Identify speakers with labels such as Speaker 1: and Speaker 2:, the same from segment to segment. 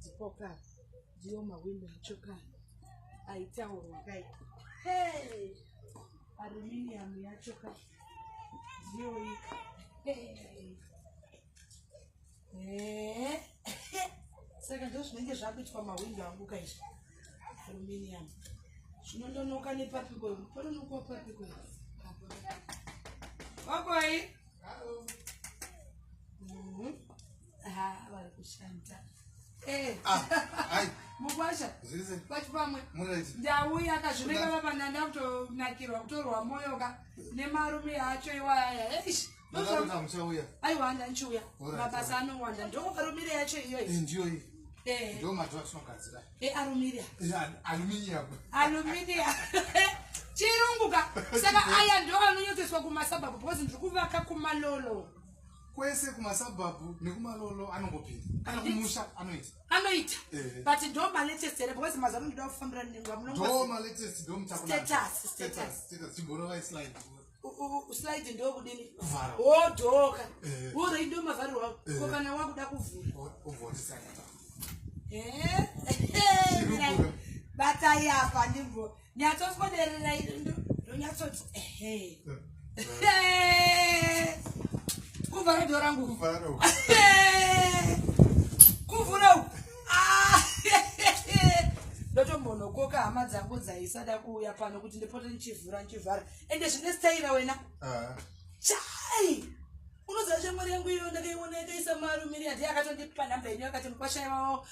Speaker 1: Dzipoka ndiyo mawimbi muchoka aitaurwa kai. Hey! Aluminium yacho ka ndiyo iyi. Hey! Hey! Saka ndizvo zvinenge zvakuitwa mawimbi angu kai. Aluminium. Zvinondonoka nepapi koi? Panonoka papi koi? Wakoi? Eh. Ah,
Speaker 2: mukwasha
Speaker 1: kwachipamwe ndauya
Speaker 2: akazvimeka
Speaker 1: vapananda kutonakirwa kutorwa moyo ka nemarume acho iwaya eish
Speaker 2: aiwa ndanchiuya
Speaker 1: mabasa anowanda ndokuvarumire yacho iyoyi
Speaker 2: eh, eh.
Speaker 1: arumiriya
Speaker 2: aluminiya
Speaker 1: chirungu ka saka aya ndo anonyotseswa kumasabhabhu because ndiri kuvaka kumalolo kwese
Speaker 2: kumasabhabhu nekumalolo anongopinda kana kumusha anoita anoita
Speaker 1: but ndo malatest here because mazuva anoda kufambira nengwa munondo malatest ndo
Speaker 2: mutakunastatus status status
Speaker 1: chiborovai slide
Speaker 2: slide
Speaker 1: ndo kudini kuvhara wodoka worai ndo mavharirwa ko kana wakuda kuvhura ovhotisa batai apa ndimbo nyatsoswederera ndonyatsoti ehe kuvhara dho rangu kuvhara uku kuvhura uku ah! ndotombonokoka hama dzangu dzaisada kuuya pano kuti ndipote ndichivhura ndichivhara ende zvine staira wena ah. chai unoziva shamwari yangu iyo ndakaiona yakaisa marumiri yadhi akatondipa nhamba yenyu akati mukwashai wavo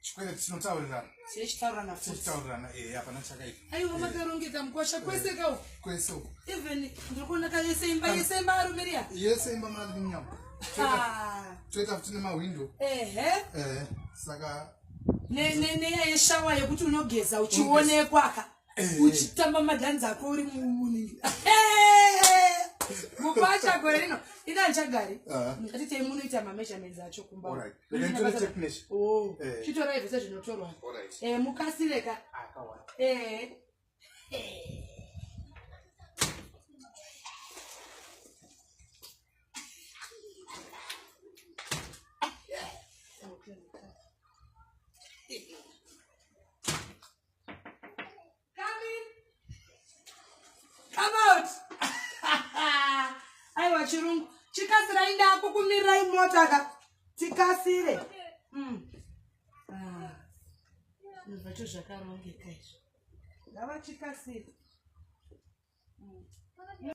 Speaker 1: chikwereti
Speaker 2: chinotaurirana chine chitaurirana futi
Speaker 1: chitaurirana eh hapana
Speaker 2: chakaita aiwa eh. makarongeka
Speaker 1: mukosha kwese eh. kawo kwese uko even
Speaker 2: ndiri
Speaker 1: kuona ka yese imba ah. yese imba arumiria yese imba mwana ndinyama
Speaker 2: ah. toita futi nemahwindo ehe eh saka ne
Speaker 1: ne ne yeshawa yekuti unogeza uchionekwa ka uchitamba madhanzi ako uri mumunini mupacha gore rino ini andichagari ah. atitei munoita mameasurements acho kumba oh. eh. chitorai zvese zvinotorwa eh, mukasire ka eh. aiwa chirungu chikasirai ndakukumirirai mota ka tikasire mm. ah. zvacho zvakarongeka izvo ngavachikasire mm.